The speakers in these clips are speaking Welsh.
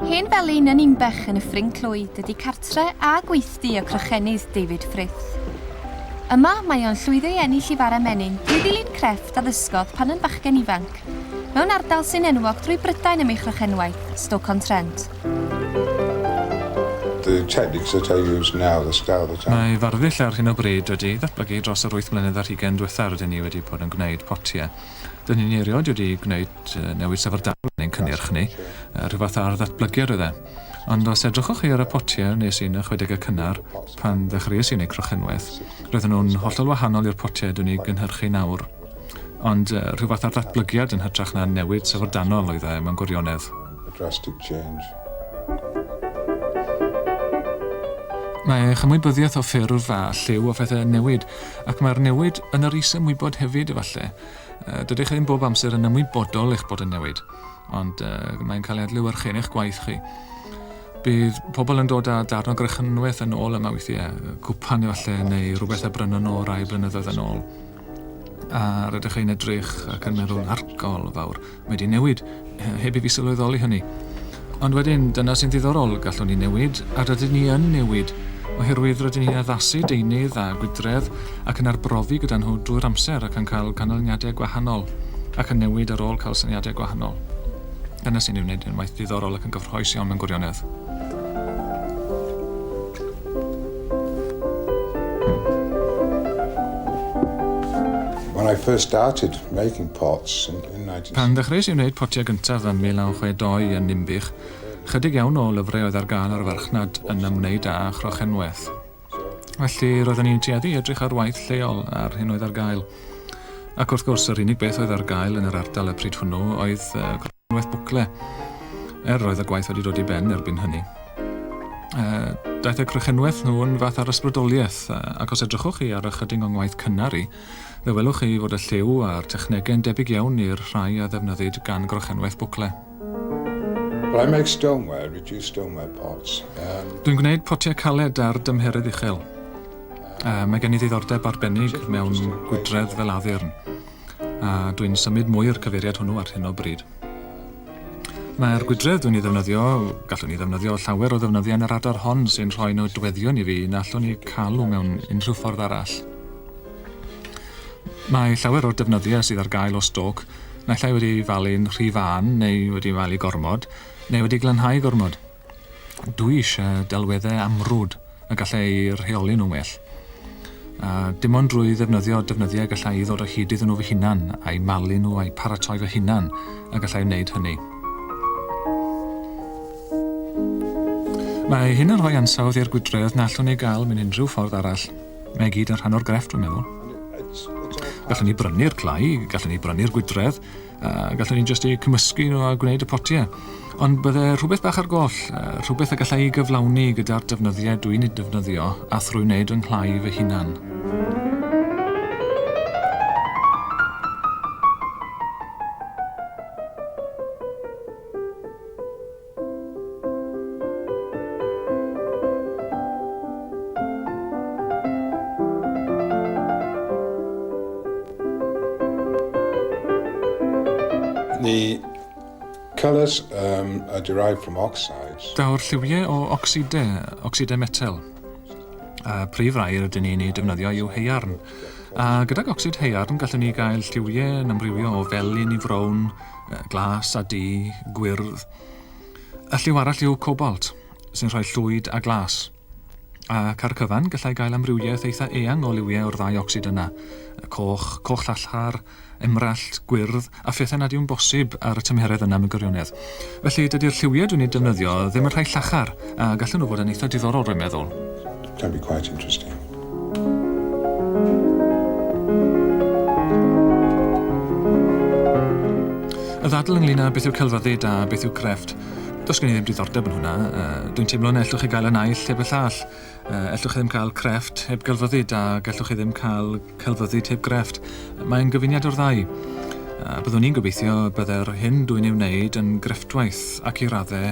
Hen Felin yn Inbech yn Nyffryn Clwyd ydy cartre a gweithdy y Crochennydd David Frith. Yma mae o'n llwyddo i ennill i fara menyn drwy ddilyn crefft a ddysgodd pan yn bachgen ifanc. mewn ardal sy'n enwog drwy Brydain am ei chrochenwaith, Stoke-on-Trent. The tactics that I use now, the style that I. Mae farddull ar hyn o bryd wedi ei ddatblygu dros yr wyth mlynedd ar hugain diwetha rydyn ni wedi bod yn gwneud potiau. Dyn ni'n erioed wedi gwneud newid syfrdanol yn ein cynnyrch ni, rhywfath ar ddatblygiad oedd e. Ond os edrychwch chi ar y potiau wnes i yn y chwedegau cynnar, pan ddechreuais i wneud crochenwaith, roedden nhw'n hollol wahanol i'r potiau dwi'n eu gynhyrchu nawr. Ond rhyw fath ar ddatblygiad yn hytrach na newid syfrdanol oedd e, mewn gwirionedd. A drastic change. Mae chymwybyddiaeth o ffurf a lliw o phethau yn newid, ac mae'r newid yn yr is-ymwybod hefyd, efallai. Dydych chi ddim bob amser yn ymwybodol eich bod yn newid, ond mae'n cael ei adlewyrchu yn eich gwaith chi. Bydd pobl yn dod â darn o grychynwaith yn ôl yma weithiau, cwpan efallai, neu rhywbeth a brynon nhw rai blynyddoedd yn ôl. A rydych chi'n edrych ac yn meddwl, argol fawr, mae wedi newid, heb i fi sylweddoli hynny. Ond wedyn, dyna sy'n ddiddorol, gallwn ni newid, a rydyn ni yn newid, oherwydd rydyn ni'n addasu deunydd a gwydredd ac yn arbrofi gyda nhw drwy'r amser ac yn cael canlyniadau gwahanol, ac yn newid ar ôl cael syniadau gwahanol. Dyna sy'n ei wneud yn waith ddiddorol ac yn gyffrous iawn mewn gwirionedd. When I first started making pots in 19... Pan ddechreuais i wneud potiau gyntaf ym 1962 yn Ninbych, ychydig iawn o lyfrau oedd ar gael ar farchnad yn ymwneud â chrochenwaith. Felly, roeddwn i'n tueddu i edrych ar waith lleol a'r hyn oedd ar gael. Ac wrth gwrs, yr unig beth oedd ar gael yn yr ardal y pryd hwnnw oedd crochenwaith. Unwaith bwcle er roedd y gwaith wedi dod i ben erbyn hynny. Daeth y crychenwaith nhw'n fath ar ysbrydoliaeth, ac os edrychwch chi ar ychydig o'n ngwaith cynnar i, fe welwch chi fod y lliw a'r technegau'n debyg iawn i'r rhai a ddefnyddid gan grychenwaith bwcle. Well, I make stoneware, reduced stoneware pots. Um... Dwi'n gwneud potiau caled ar dymheredd uchel. Uh, mae gen i ddiddordeb arbennig mewn gwydredd fel addurn. a dwi'n symud mwy o'r cyfeiriad hwnnw ar hyn o bryd. Mae'r gwydredd dwi'n ei ddefnyddio, gallwn ni ddefnyddio llawer o ddefnyddiau yn yr adar hon sy'n rhoi nodweddion i fi na allwn ni cael mewn unrhyw ffordd arall. Mae llawer o'r defnyddiau sydd ar gael o stoc naill ai wedi falu'n rhy fân neu wedi falu gormod neu wedi glanhau gormod. Dwi eisiau delweddau amrwd y gallai eu rheoli nhw'n well. A dim ond drwy ddefnyddio defnyddiau y gallai i ddod o hyd iddyn nhw fy hunan, a'u malu nhw a'u paratoi fy hunan y gallai wneud hynny. Mae hyn yn rhoi ansawdd i'r gwydredd na allwn ei gael mewn unrhyw ffordd arall. Mae gyd yn rhan o'r grefft, dwi'n meddwl. Gallwn ni brynu'r clai, gallwn ni brynu'r gwydredd, A gallwn ni jyst eu cymysgu nhw a gwneud y potiau. Ond bydde rhywbeth bach ar goll, rhywbeth y gallai ei gyflawni gyda'r defnyddiau dwi'n ei defnyddio a thrwy wneud yng nghlai fy hunan. The colours um, are derived from oxides. Daw'r lliwiau o ocsidau, ocsidau metel. A prif rai rydyn ni'n ei defnyddio yw heiarn. A gydag ocsid heiarn gallwn ni gael lliwiau yn amrywio o felyn i frown, glas a du, gwyrdd. Y lliw arall yw cobalt, sy'n rhoi llwyd a glas. Ac ar y cyfan, gallai gael amrywiaeth eitha eang o liwiau o'r ddau ocsid yna, y coch, coch llallhar, emrallt, gwyrdd, a phethau nad yw'n bosib ar y tymheredd yna mewn gwirionedd. Felly, dydy'r lliwiau dwi'n eu defnyddio ddim yn rhai llachar, a gallen nhw fod yn eitha diddorol, rwy'n meddwl. Can be quite interesting. Y ddadl ynglyn â beth yw celfyddyd a beth yw crefft, does gen i ddim diddordeb yn hwnna. Uh, Dwi'n teimlo na ellwch chi gael y naill heb y llall. Uh, ellwch chi ddim cael crefft heb gelfyddyd a gellwch chi ddim cael celfyddyd heb grefft. Mae'n gyfuniad o'r ddau. Uh, byddwn i'n gobeithio bydde'r hyn dwi'n ei wneud yn grefftwaith ac i raddau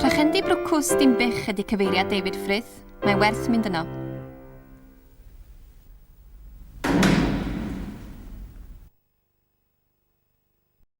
Crochendy Brwcws Dinbych ydy cyfeiriad David Frith. Mae werth mynd yno.